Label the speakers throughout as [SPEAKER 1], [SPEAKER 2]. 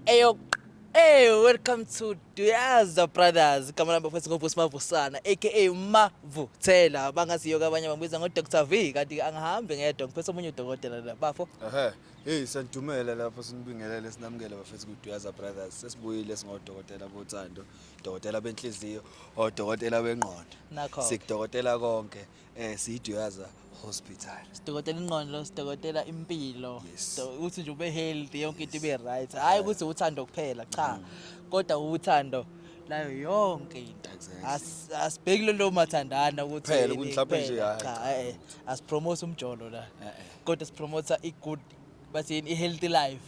[SPEAKER 1] Eyo Hey, welcome to Duyaza Brothers. Igama lami bafethu ngoVusi Mavusana aka Mavuthela. Bangaziyo ke abanye bambiza ngo Dr V kanti angihambi ngedwa ngiphethe omunye udokotela la bafo. Ehhe. Hey,
[SPEAKER 2] sanidumela lapho sinibingelele sinamukele bafethu ku Duyaza Brothers. Sesibuyile singodokotela bothando, dokotela benhliziyo, odokotela bengqondo. Nakho. Sikudokotela
[SPEAKER 1] konke.
[SPEAKER 2] eh siyiduyaza hospital sidokotela ingqondo
[SPEAKER 1] sidokotela impilo Yes. So, ukuthi nje
[SPEAKER 2] ube healthy
[SPEAKER 1] yonke into ibe right hhayi ukuthi uthando kuphela cha kodwa uthando layo yonke into Exactly. As- asibheki lelo mathandana ukuthi Kuphela, yini ukuthi mhlawumbe nje, kuphela.
[SPEAKER 2] hhayi, Cha, eh, eh,
[SPEAKER 1] asipromothe umjolo la Eh, eh. kodwa sipromotha i-good bathini i-healthy life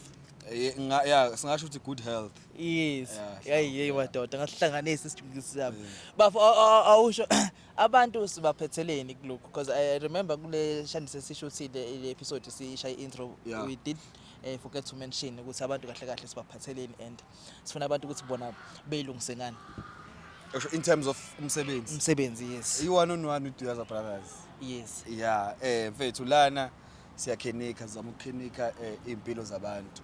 [SPEAKER 1] Eh, nga- ya
[SPEAKER 2] singasho ukuthi good health yes Yeah,
[SPEAKER 1] yayi yeyi madoda ngasihlanganisa isijungisi sami bafo aw- aw- awusho Abantu sibaphetheleni kulokhu because I remember kule shandise sisho ukuthi le le episode siyisha i-intro Yeah. we did eh, forget to mention ukuthi abantu kahle kahle sibaphatheleni and sifuna abantu ukuthi bona beyilungise ngani Usho in
[SPEAKER 2] terms of umsebenzi umsebenzi yes i-one on
[SPEAKER 1] one with Duyaza
[SPEAKER 2] Brothers yes
[SPEAKER 1] yeah eh
[SPEAKER 2] mfethu lana siyakhenika sizama ukukhenika eh, iy'mpilo zabantu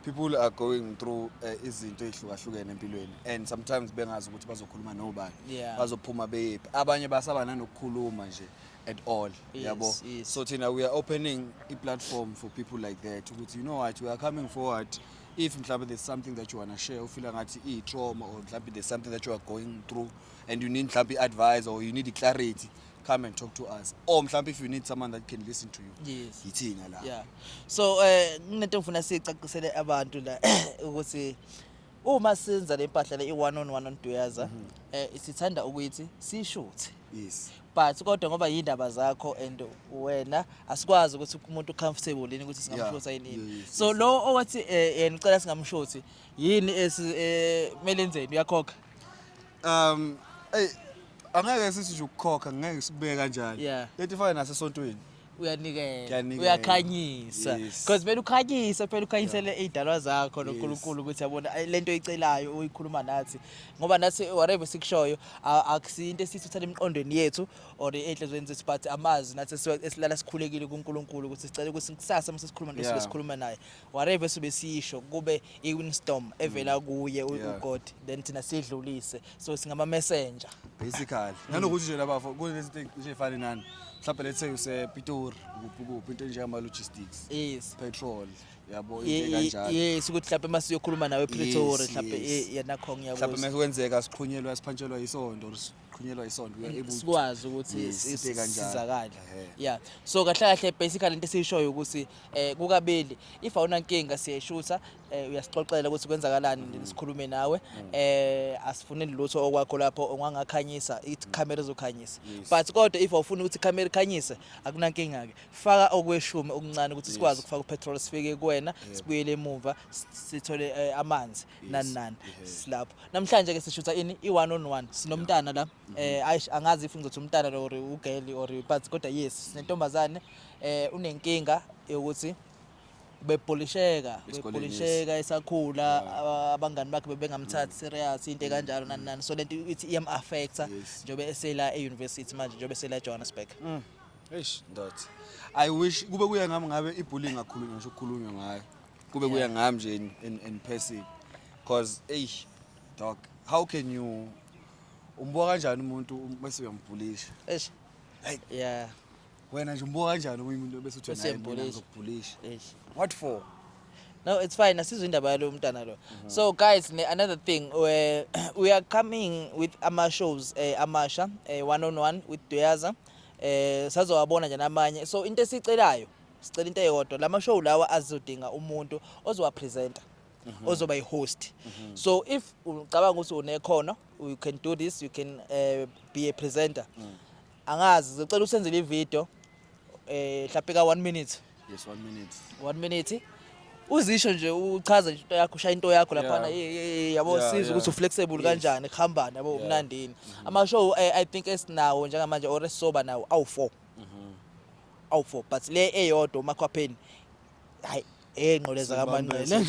[SPEAKER 2] people are going through eh, izinto ey'hlukahlukene empilweni and sometimes bengazi ukuthi bazokhuluma nobani Yeah. bazophuma beyephi abanye basaba nanokukhuluma nje at all Yes, yabo yes. so thina we are opening i-platform for people like that ukuthi you know what we are coming forward if mhlawumbe there's something that you wanna share ufila ngathi iyi-trauma or mhlawumbe there's something that you are going through and you need mhlawumbe i-advice or you need i-clarity come and talk to us or mhlawumbe if you need someone that can listen to you yes yithina la
[SPEAKER 1] yeah
[SPEAKER 2] so eh
[SPEAKER 1] kunento ngifuna sicacisele abantu la ukuthi uma senza le mpahla le i-one on one on duyaza mhm. eh sithanda ukuthi sishuthe yes but
[SPEAKER 2] kodwa ngoba
[SPEAKER 1] yindaba zakho and wena asikwazi ukuthi umuntu comfortable yini ukuthi singamshotha yini yini so lo owathi eh, yena ucela singamshothi yini esimele eh, enzeni uyakhokha
[SPEAKER 2] um eyi angeke sithi nje ukukhokha ngeke sibeke kanjalo Yeah. leti fane nasesontweni uyanikela
[SPEAKER 1] Ngiyanikela. uyakhanyisa Yes. because kumele ukhanyise phela ukhanyisele iy'dalwa zakho nonkulunkulu ukuthi yabona ay, le nto oyicelayo uyikhuluma nathi ngoba nathi whatever sikushoyo a- akusiyo into esiyithuthela emqondweni yethu or ey'nhlizweni zethu but amazwi nathi esiwa- esilala sikhulekile kunkulunkulu ukuthi sicela ukuthi kusasa uma sesikhuluma nto Yeah. sibe sikhuluma naye whatever sobe sisho kube iwinstorm evela mm. kuye uGod then thina sidlulise so singama messenger basically mm.
[SPEAKER 2] nanokuthi nje labafo kunezinto nje efana nani mhlawumbe let's say use Pitori kuphi kuphi into njengama logistics yes petrol yabo into kanjalo yes ukuthi mhlawumbe mase
[SPEAKER 1] uyokhuluma nawe Pretoria mhlawumbe yena khongi yakuthi mhlawumbe mase kwenzeka
[SPEAKER 2] siqhunyelwa siphantshelwa isonto qhunyelwa isonto we are able to- sikwazi ukuthi Yes, si-
[SPEAKER 1] sibe kanjalo. sizakale Ehhe. yeah so kahle kahle basically into esiyishoyo ukuthi eh kukabili if awunankinga siyayishutha eh uyasixoxela ukuthi kwenzakalani Mm. sikhulume nawe eh asifuneli lutho okwakho lapho ongangakhanyisa ithi camera ezokhanyisa Mm. Yes. but kodwa if awufuni ukuthi camera ikhanyise akunankinga ke faka okweshumi okuncane ukuthi sikwazi ukufaka upetrol sifike kuwena sibuyele emuva s- sithole eh, amanzi nani nani silapho namhlanje ke sishutha ini i-one on one sinomntana la mm-hmm. eh ayish angazi if ngizothi umntana lo or ugeli or but kodwa yes sinentombazane eh unenkinga yokuthi bepolisheka bepolisheka esakhula abangani bakhe bebengamthathi mm. serious into kanjalo nani nani so lento ithi iyam affecta njobe esela e-university manje njobe esela Johannesburg mm. eish
[SPEAKER 2] ndothi i wish kube kuya ngami ngabe ibullying akhulunywa ngisho ukukhulunywa ngayo kube kuya yeah. ngami nje in, in, in person cause eyi dog how can you umbuka kanjani umuntu um, bese uyambhulisha eish like yeah wena nje umbuka kanjani umuntu bese uthi naye ngizokubhulisha eish what for no it's
[SPEAKER 1] fine asizwe indaba yalo mntana lo mhm. so guys ne, another thing we, we are coming with ama shows eh, amasha eh, one on one with Doyaza eh, sazowabona nje namanye so into esicelayo sicela into eyodwa lama show lawa azodinga umuntu ozowa presenter mhm. ozoba i-host mhm. so if ucabanga ukuthi unekhono you can do this you can uh, be a presenter mm. angazi ngicela usenzele ivideo eh mhlawumbe ka 1 minute yes 1 minute
[SPEAKER 2] 1 minute
[SPEAKER 1] uzisho nje uchaze nje into yakho ushaya into yakho laphana yabo siza ukuthi uflexible kanjani kuhambani yabo umnandini ama show eh, i think esinawo njengamanje or esisoba nawo awu 4 awu4 but le eyodwa umakhwapheni hayi enqoleza kamanqele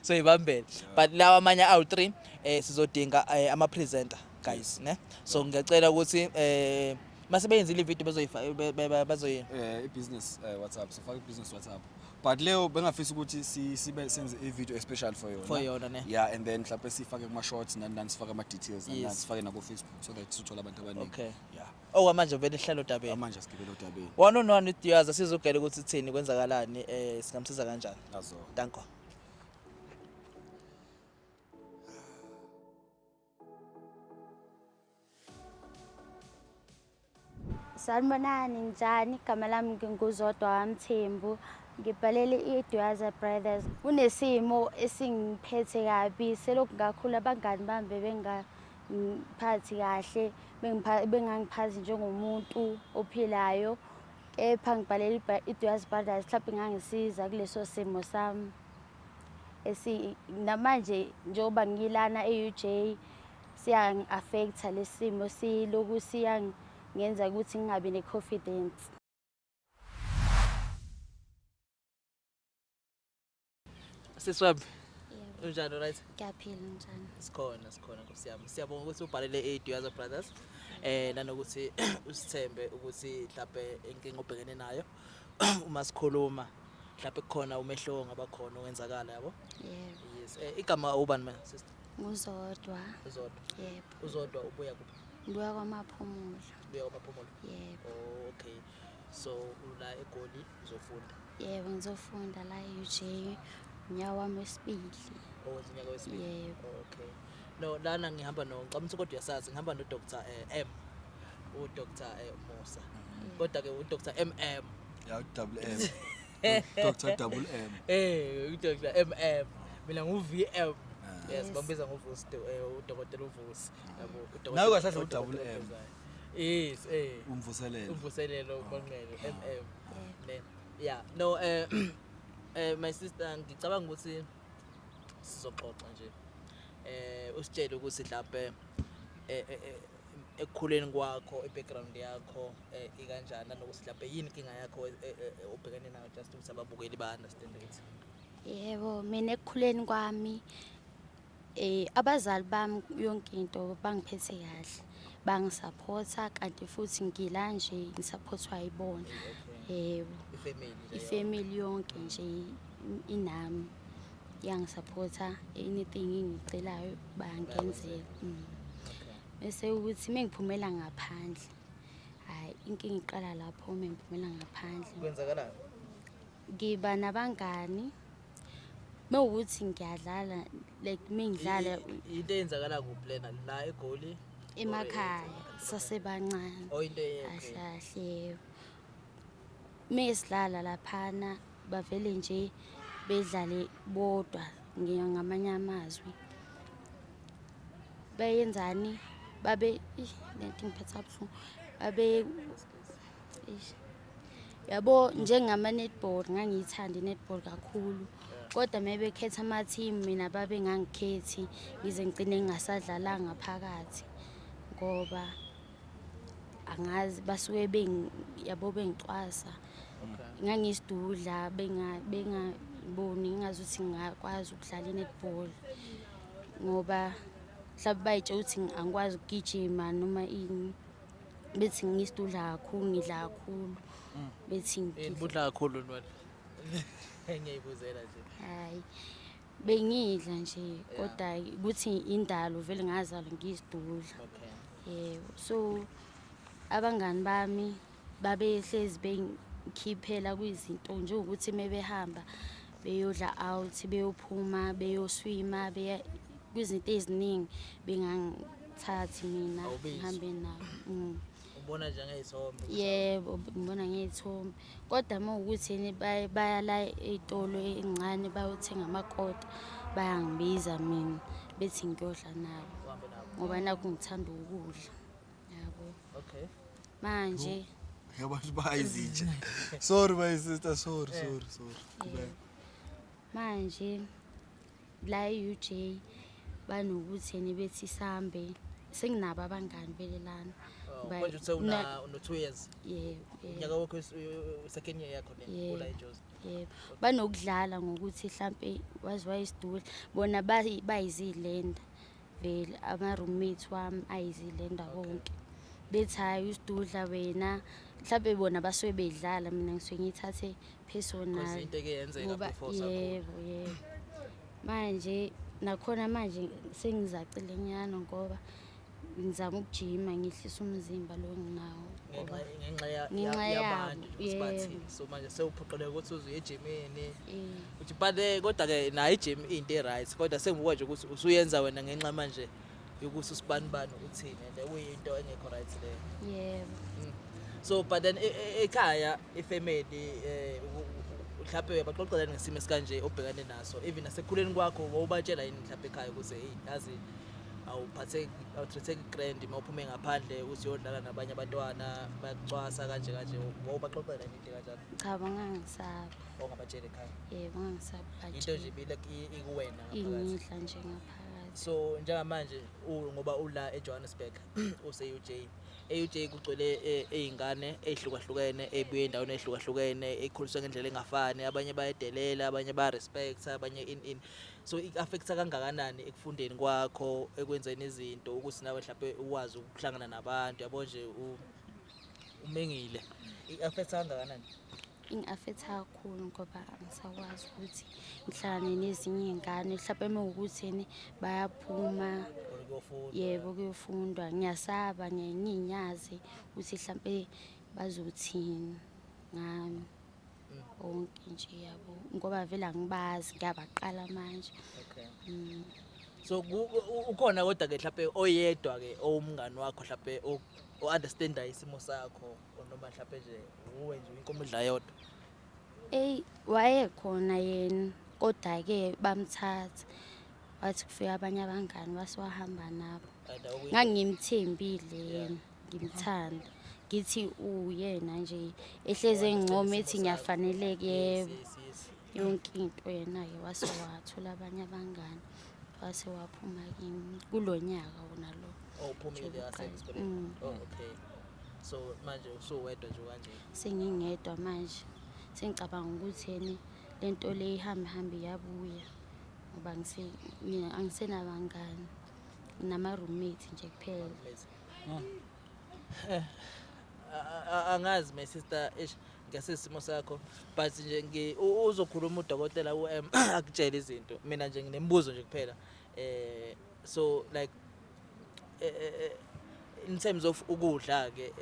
[SPEAKER 1] so ibambela but lawa amanye awu3 eh sizodinga eh, ama presenter guys ne so ngiyacela ukuthi eh mase beyenzile
[SPEAKER 2] ivideo
[SPEAKER 1] bezoyifaka
[SPEAKER 2] bazoyi eh ibusiness
[SPEAKER 1] eh,
[SPEAKER 2] whatsapp sifaka
[SPEAKER 1] ibusiness
[SPEAKER 2] whatsapp but leyo bengafisa ukuthi sibe senze ivideo especial for yona for yona ne yeah and
[SPEAKER 1] then mhlawumbe sifake
[SPEAKER 2] kuma shorts nani nani sifake ama details nani sifake nako facebook so that sithola abantu abaningi okay yeah
[SPEAKER 1] Okwamanje
[SPEAKER 2] vele sihlala
[SPEAKER 1] odabeni. Amanje sigibele odabeni.
[SPEAKER 2] One on one with yours
[SPEAKER 1] sizogela ukuthi uthini kwenzakalani eh singamsiza kanjani. Azo. Danko.
[SPEAKER 3] Sanibonani njani igama lami nginguzodwa wamthembu ngibhalele i-eduaza brothers kunesimo esingiphethe kabi selokhu ngakhula abangani bami bebenga ngiphathi kahle bengangiphathi njengomuntu ophilayo kepha ngibhalela i-duas brothers mhlawumbe ingangisiza kuleso simo sami esi namanje njengoba ngilana e-uj siyangi-affektha lesi simo siloku siyangenza ukuthi ngingabi ne-confidence
[SPEAKER 1] Sisweb. Yebo. Unjani right? Ngiyaphila njani?
[SPEAKER 3] Sikhona sikhona Nkosi
[SPEAKER 1] yami. Siyabonga ukuthi ubhalele iDuyaza Brothers. Eh nanokuthi usithembe ukuthi mhlawumbe inkinga obhekene nayo uma sikhuluma mhlawumbe kukhona umehluko ongaba khona owenzakala yabo. Yebo. Yes. Eh
[SPEAKER 3] igama
[SPEAKER 1] ubani mina sister? Nguzodwa.
[SPEAKER 3] Uzodwa.
[SPEAKER 1] Yebo. Uzodwa
[SPEAKER 3] ubuya kuphi?
[SPEAKER 1] Ngibuya
[SPEAKER 3] kwaMaphumulo. Ubuya kwaMaphumulo.
[SPEAKER 1] Yebo. Oh,
[SPEAKER 3] okay.
[SPEAKER 1] so ula egoli uzofunda yebo ngizofunda
[SPEAKER 3] la e-uj unyaka wami wesibili owenza unyaka
[SPEAKER 1] wesibili yebo okay
[SPEAKER 3] no
[SPEAKER 1] lana ngihamba no ngicabanga ukuthi kodwa uyasazi ngihamba no Dr eh, M u Dr eh, Musa mm. kodwa ke u Dr MM ya
[SPEAKER 2] double M Dr double
[SPEAKER 1] M eh u Dr MM mina ngu VM ah. yes bambiza ngovusi
[SPEAKER 3] eh,
[SPEAKER 1] udokotela uvusi yabo udokotela nawe kahle udouble
[SPEAKER 2] M Yes,
[SPEAKER 1] eh. Umvuselelo.
[SPEAKER 2] Umvuselelo
[SPEAKER 1] uMonqele oh. MM. Ne.
[SPEAKER 3] Yeah,
[SPEAKER 1] no eh eh my sister ngicabanga ukuthi sizoxoxa nje. Eh usitshele ukuthi mhlawumbe eh, eh, eh ekukhuleni kwakho i-background yakho eh, ikanjani nanokuthi mhlawumbe yini inkinga yakho obhekene nayo just ukuthi ababukeli ba-understand ukuthi yebo
[SPEAKER 3] mina ekukhuleni kwami Eh abazali bami yonke into bangiphethe kahle. Bangisaphotha kanti futhi ngila nje ngisaphothwa yibona. Yebo. Ifamily yonke nje inami yangisaphotha anything engicelayo bangenzela. Mm. Bese ukuthi mengiphumela ngaphandle. Hayi inkinga iqala lapho mengiphumela ngaphandle. Kwenzakalani?
[SPEAKER 1] ngiba
[SPEAKER 3] nabangani mewukuthi ngiyadlala like mengidlala into eyenzakala
[SPEAKER 1] kuphi lena la egoli emakhaya
[SPEAKER 3] sasebancane oh,
[SPEAKER 1] ahlahle
[SPEAKER 3] mesidlala laphana bavele nje bedlale bodwa ngamanye amazwi bayenzani babe lento ingiphetha buhlungu babe yabo njengama-netball ngangiyithanda i-netball kakhulu kodwa uma bekhetha ama-team mina babe ngangikhethi ngize ngigcine ngingasadlalanga phakathi ngoba angazi basuke yabo bengicwasa ngangiyisidudla bengaboni ngingazi ukuthi ngingakwazi ukudlala i-netball ngoba mhlawumbe bayitshela ukuthi angikwazi ukugijima noma ini bethi ngiyisida udla kakhulu ngidla kakhulu mm. bethi ngibudla kakhulu
[SPEAKER 1] ntwana engiyibuzela nje hayi
[SPEAKER 3] bengidla nje kodwa ukuthi indalo vele ngazalwa ngiyizidudla yebo so abangani bami babehlezi bengikhiphela kwizinto njengokuthi uma behamba beyodla out beyophuma beyoswima beya kwizinto eziningi bengangithathi mina ngihambe nabo mm. ubona
[SPEAKER 1] njengey'thombe yebo
[SPEAKER 3] ngibona ngey'thombe kodwa uma ukuthi yini baya la ey'tolo ey'ncane bayothenga amakota bayangibiza mina bethi ngiyodla nabo ngoba nakho ngithanda ukudla
[SPEAKER 1] yabo okay manje
[SPEAKER 3] yabantu
[SPEAKER 2] bayizitshe sorry my sister sorry eh. sorry sorry eh.
[SPEAKER 3] manje la e-UJ banokuthi yena bethi sambe senginabo abangani belelana oh, manje uthe
[SPEAKER 1] una no 2 years yebo unyaka
[SPEAKER 3] wakho
[SPEAKER 1] second year yakho ne ola ejozi yebo
[SPEAKER 3] banokudlala ngokuthi mhlambe waziwa isidudla bona bayizilenda vele ama-roommate wami ayizile ndawo wonke bethi hhayi usidudla wena mhlawumbe bona basuke bedlala mina ngisuke ngiyithathe personal ngoba
[SPEAKER 1] yebo yebo
[SPEAKER 3] manje nakhona manje sengizacile nyana ngoba ngizama ukujima ngihlisa umzimba lo nginawo ngenxa
[SPEAKER 1] yabo yebo so manje sewuphoqeleka ukuthi uze uye ejimini Uthi but eh, kodwa ke nayo i-gym into e-right kodwa sengibuka nje ukuthi usuyenza wena ngenxa manje yokuthi usibanibani uthini and kuyinto engekho right leyo. yebo Mm.
[SPEAKER 3] So
[SPEAKER 1] but then e- e- ekhaya ifamily eh u- u- mhlawumbe uyabaxoxelani ngesimo esikanje obhekane naso even nasekhuleni kwakho wawubatshela yini mhlawumbe ekhaya ukuthi hey yazi awuphatheki awutreatheki grand uma uphume ngaphandle uthi uyodlala nabanye abantwana bayakucwasa kanje kanje wawubaxoxela yini into kanjalo cha bangangisabi
[SPEAKER 3] ongabatsheli ekhaya
[SPEAKER 1] yebo ngangisabatshela
[SPEAKER 3] into nje ibile
[SPEAKER 1] ikuwena ingidla nje ngaphakathi
[SPEAKER 3] so njengamanje
[SPEAKER 1] ngoba ula eJohannesburg useUJ eUJ kugcwele ezingane e, ezihlukahlukene ebuye endaweni ezihlukahlukene ekhuliswe ngendlela engafani abanye bayedelela abanye ba respect abanye in in so it affects kangakanani ekufundeni kwakho ekwenzeni izinto ukuthi nawe mhlawumbe uwazi ukuhlangana nabantu yabo nje umengile it affects kangakanani ingafetha
[SPEAKER 3] kakhulu ngoba angisakwazi ukuthi ngihlangane nezinye iy'ngane mhlawumpe uma wukuthini bayaphuma yebo kuyofundwa ngiyasaba ngiye ngiyinyazi ukuthi mhlawumpe bazothini ngami onke nje yabo ngoba vele angibazi ngiyabaqala manje mm.
[SPEAKER 1] so ukhona kodwa-ke mhlawumpe oyedwa-ke owumngani wakho mhlawumpe o-understandayo isimo sakho noma mhlawumbe nje nguwe nje inkomo edla yodwa eyi wayekhona
[SPEAKER 3] yena kodwa-ke bamthatha wathi kufika abanye abangani wasiwahamba nabo ngangimthembile yena ngimthanda ngithi uyena nje ehlezi engincoma ethi ngiyafaneleka yebo yonke into yena-ke wase wathola abanye abangani wase waphuma kimi kulo nyaka wona lo owuphumile wasenisibele
[SPEAKER 1] Mm. oh okay so manje usuwedwa nje kanje sengingedwa
[SPEAKER 3] manje sengicabanga ukuthi yena le nto le ihambe hambe iyabuya ngoba ngise- mina angisenabangani nama-roommate nje kuphela Amazing.
[SPEAKER 1] Hmm. Eh, angazi my sister eish ngasesimo sakho but nje uzokhuluma udokotela uM akutshela izinto mina nje nginemibuzo nje kuphela eh so like eh, eh, eh, in terms of ukudla ke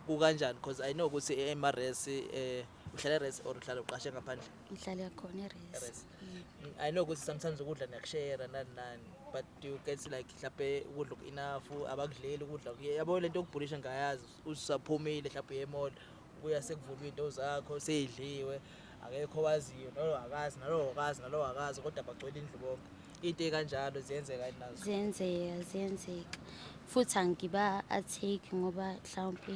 [SPEAKER 1] kukanjani because i know ukuthi eMRS eh uhlala eRes or uhlala uqashe ngaphandle ngihlala khona
[SPEAKER 3] eRes mm. i know ukuthi
[SPEAKER 1] sometimes ukudla niyakushare nani nani but do you get like mhlawumbe ukudla oku-enough abakudleli ukudla yabo le nto yokubhulisha ngayazi usaphumile mhlawumbe uyemall kuya sekuvulwa iy'nto zakho seyidliwe akekho owaziyo nalo akazi nalo akazi nalo akazi kodwa bagcwele indlu bonke into ekanjalo ziyenzeka yini nazo ziyenzeka ziyenzeka
[SPEAKER 3] futhi angiba atake ngoba mhlawumpe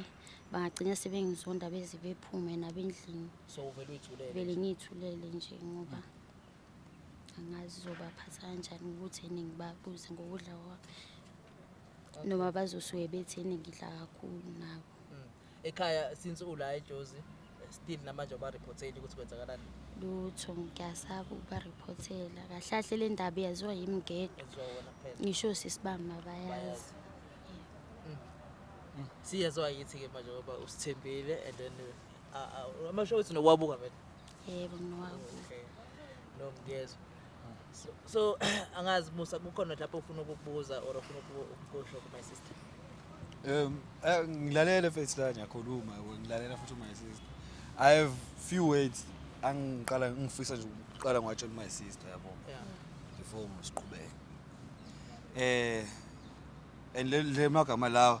[SPEAKER 3] bangagcina sebengizonda beze bephume nabendlini so uvele uyithulele
[SPEAKER 1] vele ngiyithulele
[SPEAKER 3] nje ngoba angazi zobaphatha kanjani ukuthi yini ngibabuze ngokudla kwami noma bazosuke bethi yini ngidla kakhulu nabo Mm. Ekhaya
[SPEAKER 1] since ula eJozi still namanje abareporteli ukuthi kwenzakalani. lutho
[SPEAKER 3] ngiyasaba ukubariphothela kahle kahle le ndaba iyaziwa yimi ngedwa Ezwa wona kuphela. ngisho sisibamba bayazi
[SPEAKER 1] Siyezwa yithi ke manje ngoba usithembile and then uh, uh, ama show wethu nowabuka vele.
[SPEAKER 3] yebo
[SPEAKER 1] okay no ngiyezwa so, so angazi musa kukhona lapho ufuna ukukubuza or ufuna ukukusho ku my sister um eh,
[SPEAKER 2] ngilalele face la ngiyakhuluma ngilalela futhi my sister i have few words angiqala ngifisa nje ukuqala ngwatshela my sister yabo yeah before ngisiqhubeke eh and le magama lawa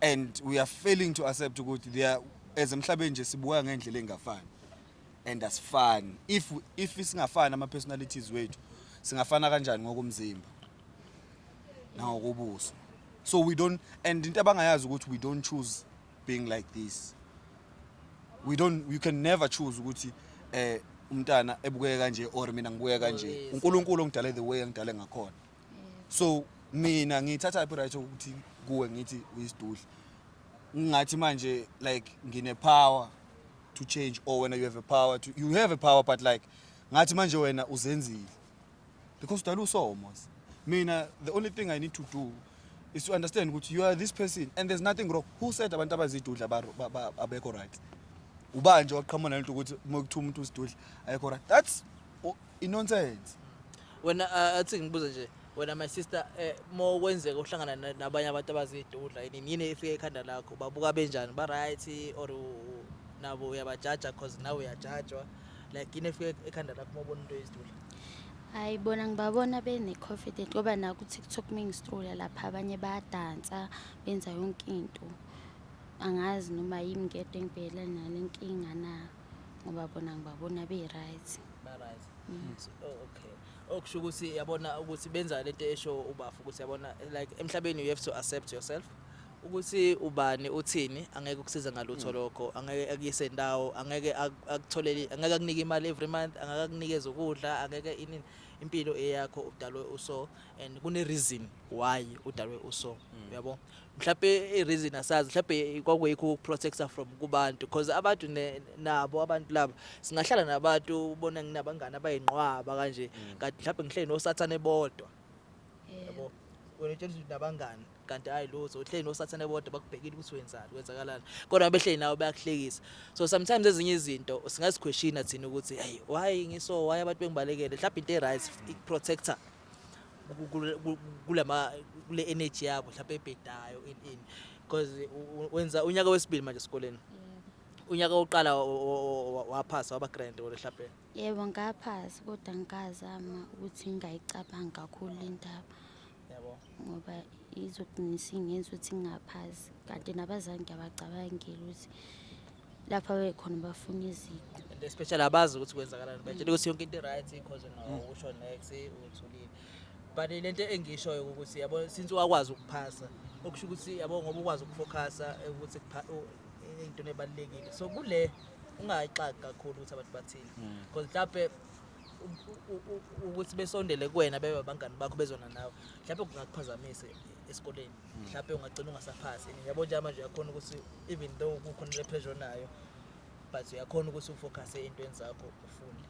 [SPEAKER 2] and we are failing to accept ukuthi they are as emhlabeni nje sibuka ngendlela engafani and asifani if if singafani ama personalities wethu singafana kanjani ngokomzimba nangokubuso so we don't and into abangayazi ukuthi we don't choose being like this we don't you can never choose ukuthi eh umntana ebukeka kanje or mina ngibukeka kanje uNkulunkulu ongidale the way angidale ngakhona so mina ngithatha phi right ukuthi kuwe ngithi uyisidudla ngingathi manje like ngine power to change or wena you have a power to you have a power but like ngathi manje wena uzenzile because udala usomo mina the only thing i need to do is to understand ukuthi you are this person and there's nothing wrong who said abantu abazidudla abekho right ubanje waqhamuka nalento ukuthi uma kuthiwa umuntu usidudla ayekho right that's inonsense wena
[SPEAKER 1] uh, athi ngibuze nje wena my sister eh, mo kwenzeka uhlangana na- nabanye abantu abazidudla yini yini efike ekhanda lakho babuka benjani ba right or u- nabo uyabajaja cause nawe uyajajwa like yini efike ekhanda lakho uma ubona into yezidudla hayi
[SPEAKER 3] bona ngibabona bene-confident ngoba naku-tiktok uma ngisitula lapha abanye bayadansa benza yonke into angazi noma yimi ngedwa engibhekela nale nkinga na ngoba bona ngibabona be-right ba-right mm.
[SPEAKER 1] so, oh, okay okusho oh, ukuthi yabona ukuthi benza lento esho ubafu ukuthi yabona like emhlabeni you have to accept yourself ukuthi ubani uthini angeke ukusiza ngalutho mm. lokho angeke akuyise ndawo angeke akutholele angeke akunike imali every month angeke akunikeze ukudla angeke ini impilo eyakho udalwe uso and kune reason why udalwe uso mm. uyabo mm. mhlawumbe i-reason asazi mhlawumbe kwakuyikho ukuprotecta from kubantu because abantu nabo abantu laba singahlala nabantu ubona nginabangani abayinqwaba kanje mm. kanti mhlawumbe ngihleli nosathane bodwa yabo wena utshela ukuthi nabangani kanti hayi lutho uhleli nosathane bodwa bakubhekile ukuthi wenzani kwenzakalani kodwa behleli nawe bayakuhlekisa so sometimes ezinye izinto singazikhweshina thina ukuthi hey why ngiso why abantu bengibalekele mhlawumbe into e-right protector kulama kule energy yabo mhlawumbe ebhedayo in in because wenza unyaka wesibili manje esikoleni unyaka oqala waphasa waba grand wona mhlawumbe yebo ngaphasa
[SPEAKER 3] kodwa ngikazama ukuthi ngingayicabangi kakhulu indaba yabo
[SPEAKER 1] ngoba
[SPEAKER 3] izogcina isingenza ukuthi ngingaphasi kanti nabazali ngiyabacabangela ukuthi lapho abekhona bafuna iziqu especially abazi
[SPEAKER 1] ukuthi kwenzakalani batshela ukuthi yonke into i-right because no usho next uthulile but le nto engishoyo ukuthi yabo since wakwazi ukuphasa okusho ukuthi yabo ngoba ukwazi ukufocusa ukuthi kupha- u- into ebalulekile so kule ungayixaki kakhulu ukuthi abantu bathini because mhlawumbe u- u- u- ukuthi besondele kuwena bebe abangani bakho bezona nawe mhlawumbe kungakuphazamisa esikoleni mhlawumbe ungagcina ungasaphasi yabo nje manje uyakhona ukuthi even though kukhona le pressure nayo but uyakhona ukuthi ufocus eintweni zakho ufunde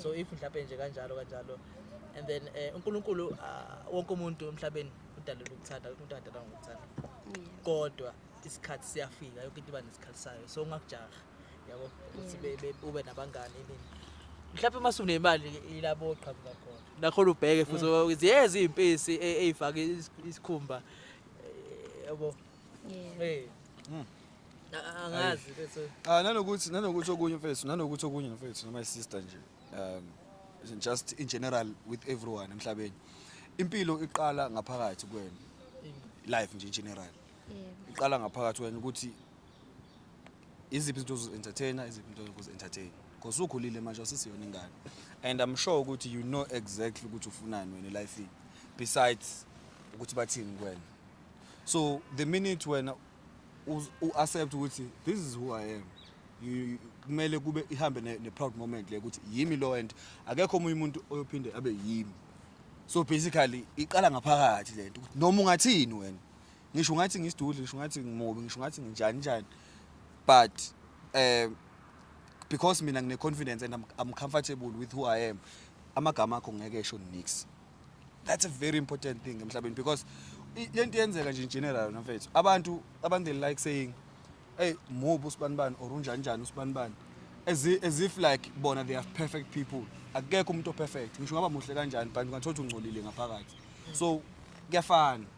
[SPEAKER 1] so if mhlawumbe nje kanjalo kanjalo and then eh, uNkulunkulu uh, wonke umuntu emhlabeni udalelwe ukuthanda umuntu adalwa ngokuthanda kodwa isikhathi siyafika yonke into iba nesikhathi sayo so ungakujaha yabo ukuthi be- be- ube nabangani nini mhlawumbe uma sunemali ilabo oqhamuka khona nakhona ubheke futhi mm. ziyeza iy'mpisi e- ey'fake is- isikhumba eh, yabo Yeah. Eh. Mm. A- angazi bese Ah nanokuthi nanokuthi
[SPEAKER 2] okunye mfethu nanokuthi okunye mfethu noma sister nje um just in general with everyone emhlabeni impilo iqala ngaphakathi kuwena life nje in general Yeah. iqala ngaphakathi wena ukuthi iziphi izinto ozozi-entertaina iziphi into yokuzi-entertaina because ukhulile manje awusisiyona ingane and i'm sure ukuthi you know exactly ukuthi ufunani wena elifini besides ukuthi bathini kuwena so the minute wena uz- u-accept ukuthi this is who i am you- you- kumele kube ihambe ne- ne-proud moment le ukuthi yimi lo and akekho omunye umuntu oyophinde abe yimi so basically iqala ngaphakathi le nto ukuthi noma ungathini wena ngisho ungathi ngisidudli ngisho ungathi ngimobi ngisho ungathi nginjani njani but um because mina ngine-confidence and I'm, I'm comfortable with who I am amagama akho ngeke esho nix that's a very important thing emhlabeni because le nto yenzeka nje in general nafethu abantu abantu they like saying hey mubi usibanibani or unjani njani usibanibani as, as if like bona they are perfect people akekho umuntu operfect ngisho ngaba muhle kanjani but ungathola ukuthi ungcolile ngaphakathi so kuyafana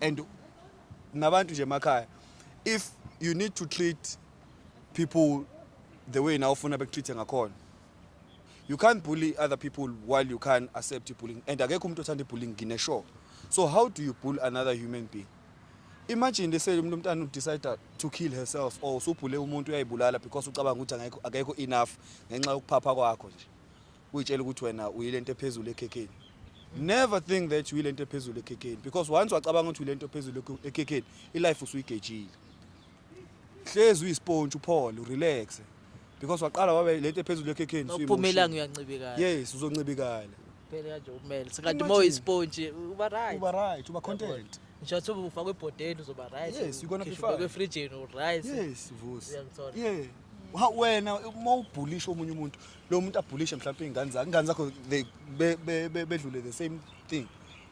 [SPEAKER 2] and nabantu nje emakhaya if you need to treat people the way nawe ufuna bekutreat-e ngakhona you can't bully other people while you can't accept bullying and akekho umuntu othanda ibullying ngine-sure so how do you bull another human being imagine lese umuntu omntana udecide to kill herself or usubhule umuntu uyayibulala because ucabanga ukuthi akekho enough ngenxa yokuphapha kwakho nje uyitshela ukuthi wena uyilento ephezulu ekhekheni never think that uyilento ephezulu ekhekheni because once wacabanga ukuthi uyilento ephezulu ekhekheni ilife usuyigejile hlezi uyisponge uphole urelaxe because waqala wabe lento ephezulu ekhekheni uphumelanga uyancibikala
[SPEAKER 1] yes uzoncibikala
[SPEAKER 2] phela kanje
[SPEAKER 1] ukumele sikathi uma uyisponge uba right uba right uba content
[SPEAKER 2] ngisho ukuthi ufakwe
[SPEAKER 1] ebhodeni uzoba right yes you're gonna be fine ufakwe
[SPEAKER 2] efrijini u
[SPEAKER 1] right yes vusi yeah
[SPEAKER 2] wena uma ubhulisha omunye umuntu lo muntu abhulishe mhlawumbe iy'ngane zakhe ingane zakho they be- be- be- bedlule the same thing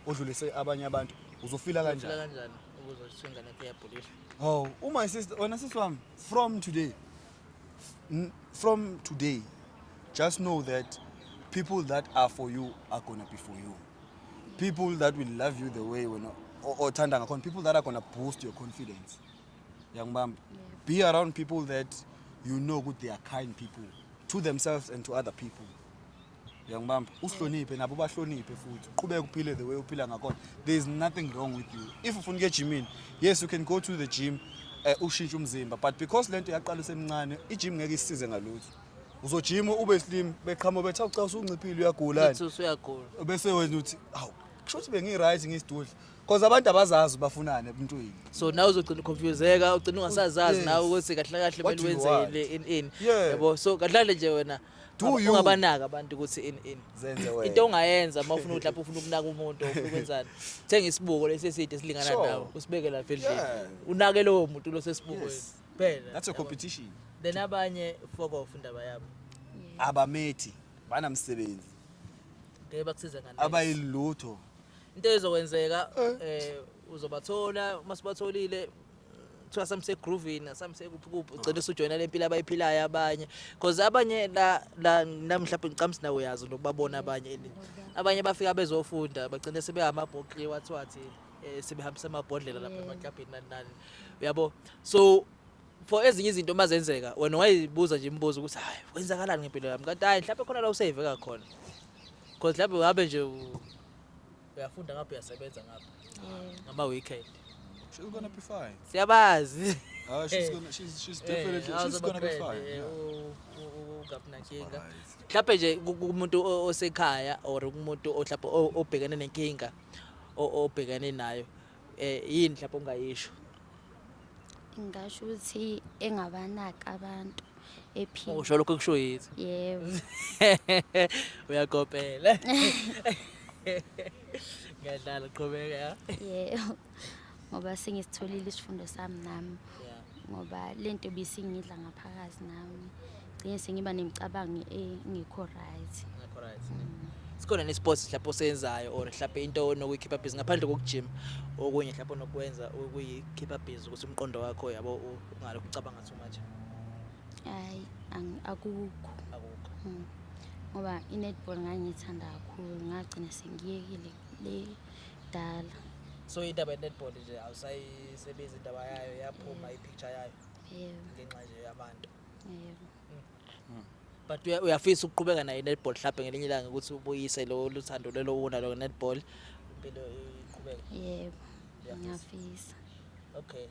[SPEAKER 2] odlulise abanye abantu uzofila Uzophila kanjani kanjani
[SPEAKER 1] ukuze kuthiwe ingane yakho iyabhulisha oh uma
[SPEAKER 2] sister wena sisi wami from today n- from today just know that people that are for you are gonna be for you people that will love you the way wena o- othanda ngakhona people that are gonna boost your confidence yangibamba be around people that you know ukuthi they are kind people to themselves and to other people yangibamba uhloniphe nabo bahloniphe futhi uqhubeke uphile the way uphila ngakhona there is nothing wrong with you if ufuna ukuya ejimini yes you can go to the gym eh, ushintshe umzimba but because lento yaqala usemncane ijim ngeke isize ngalutho uzojima ube slim beqhamo betha ucasa unciphile uyagulani Uthi usuyagula.
[SPEAKER 1] bese wena uthi
[SPEAKER 2] awu kusho ukuthi bengi-right ngisidudla Cause abantu abazazi bafunani ebuntwini. So nawe uzogcina
[SPEAKER 1] confuseka, ugcina ungasazazi nawe ukuthi kahle kahle
[SPEAKER 2] What
[SPEAKER 1] do kumele you wenze want? yini
[SPEAKER 2] in
[SPEAKER 1] in.
[SPEAKER 2] Yeah. Yabo
[SPEAKER 1] so kahle
[SPEAKER 2] kahle nje
[SPEAKER 1] wena Do ungaba- you? ungabanaka
[SPEAKER 2] abantu ukuthi
[SPEAKER 1] in in. Zenze wena. Into
[SPEAKER 2] ongayenza uma ufuna
[SPEAKER 1] ukuthi lapho ufuna ukunaka umuntu or ufuna ukwenzani. Thenga isibuko lesi eside esilingana Sure. nawe, usibeke lapha
[SPEAKER 2] endlini.
[SPEAKER 1] Yeah. Unake lowo
[SPEAKER 2] muntu
[SPEAKER 1] lo sesibukweni. Yes. Phela. That's
[SPEAKER 2] a
[SPEAKER 1] competition. Then
[SPEAKER 2] abanye
[SPEAKER 1] fuck off indaba yabo. Abamethi
[SPEAKER 2] banamsebenzi.
[SPEAKER 1] Ngeke bakusize ngani. Abayilutho.
[SPEAKER 2] into
[SPEAKER 1] ezokwenzeka eh uzobathola uma sibatholile kuthiwa samse groovini asamse kuphi kuphi ugcina usujoyina le mpilo abayiphilayo abanye because abanye la la nami mhlawumbe ngicamsi nawe uyazi nokubabona abanye and abanye bafika bezofunda bagcine sebeyamabhoqi wathiwathi eh, sebehambisa amabhodlela lapha emaklabhini nani nani uyabo so for ezinye izinto uma zenzeka wena wayibuza nje imibuzo ukuthi hayi kwenzakalani ngempilo yami kanti hayi mhlawumbe khona la usave kakhona because mhlawumbe uhambe nje u- uyafunda ngapha uyasebenza ngapha ngama-weekend She's gonna be
[SPEAKER 2] fine. siyabazi
[SPEAKER 1] Ah, she's Eh. gonna, she's,
[SPEAKER 2] she's Eh, definitely, she's awuzoba gonna be friend, fine. eh, yeah. u- u- u- ungabi
[SPEAKER 1] nankinga Alright. mhlawumbe nje ku- kumuntu o- osekhaya or kumuntu ohlapha obhekene nenkinga o- obhekene nayo eh yini mhlawumbe ongayisho
[SPEAKER 3] ngasho ukuthi engabanaki abantu ephila usho lokho kusho yithi
[SPEAKER 1] yebo uyakopela ngiyadlala qhubeka yebo
[SPEAKER 3] ngoba sengisitholile isifundo sami nami ngoba
[SPEAKER 1] le nto
[SPEAKER 3] bisingidla ngaphakathi nami gcine sengiba nemicabango engekho right ngekho right
[SPEAKER 1] mm. sikhona nesports mhlawumbe osenzayo or mhlawumbe into onokuyikhipha busy ngaphandle kokujima okunye mhlawumbe onokwenza ukuyikhipha busy ukuthi umqondo wakho yabo ungalokhu ucabanga so much hayi
[SPEAKER 3] akukho akukho mm.
[SPEAKER 1] ngoba
[SPEAKER 3] i-netball ngangiyithanda kakhulu ngagcina sengiyekile le kudala so indaba
[SPEAKER 1] ye-netball nje awusayisebenzi indaba yayo yaphuma i-picture yayo yebo ngenxa nje
[SPEAKER 3] yabantu
[SPEAKER 1] yebo but uya- uyafisa ukuqhubeka nayo i-netball mhlawumbe ngelinye ilanga ukuthi ubuyise lo luthando lelo wuna lo netball impilo iqhubeke yebo Uyafisa.
[SPEAKER 3] ngiyafisa okay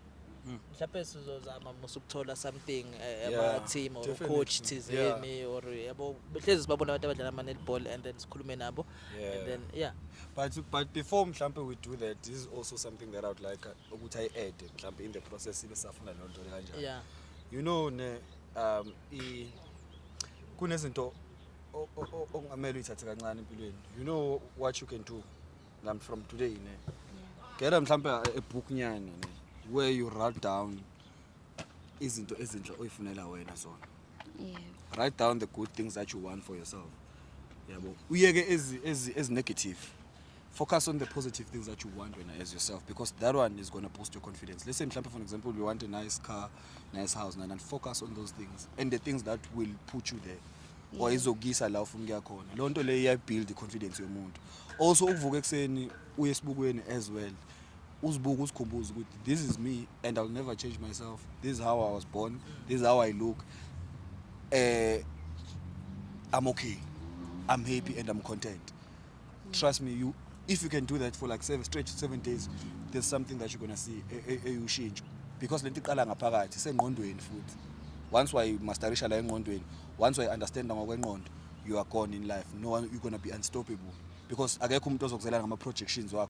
[SPEAKER 1] mhlawumbe sizozama musa ukuthola something eh, Yeah, ama-team
[SPEAKER 2] or definitely. coach
[SPEAKER 1] thizeni or yabo hlezi sibabona abantu abadlala ama-netball and then sikhulume nabo Yeah. and then yeah but but before
[SPEAKER 2] mhlampe we do that this is also something that i would like uh, ukuthi ayi add mhlampe in the process ibe safuna loo nto kanjani yeah you know
[SPEAKER 1] ne
[SPEAKER 2] um i kunezinto o- o- o- okungamele uyithathe kancane empilweni you know what you can do nam from today ne gela mhlampe a a book nyana ne where you write down izinto ezinhle oyifunela wena zona Yeah.
[SPEAKER 3] write down the good
[SPEAKER 2] things that you want for yourself yabo uyeke ezi ezi ezi negative focus on the positive things that you want wena as yourself because that one is going to boost your confidence let's say mhlawumbe for an example you want a nice car nice house and, and focus on those things and the things that will put you there or izokuyisa
[SPEAKER 3] la ufuna
[SPEAKER 2] ukuya khona loo nto leyo iyayibuild i-confidence yomuntu also ukuvuka ekuseni uye esibukweni as well uzibuke uzikhumbuze ukuthi this is me and I'll never change myself this is how I was born this is how I look eh I'm okay I'm happy and I'm content trust me you if you can do that for like seven straight seven days there's something that you're gonna see eyushintsho because lento iqala ngaphakathi sengqondweni futhi once wayimasterisha la engqondweni once wayi-understanda ngokwenqondo you are gone in life no one, you're gonna be unstoppable because akekho umuntu ozokuzela ngama-projections wakho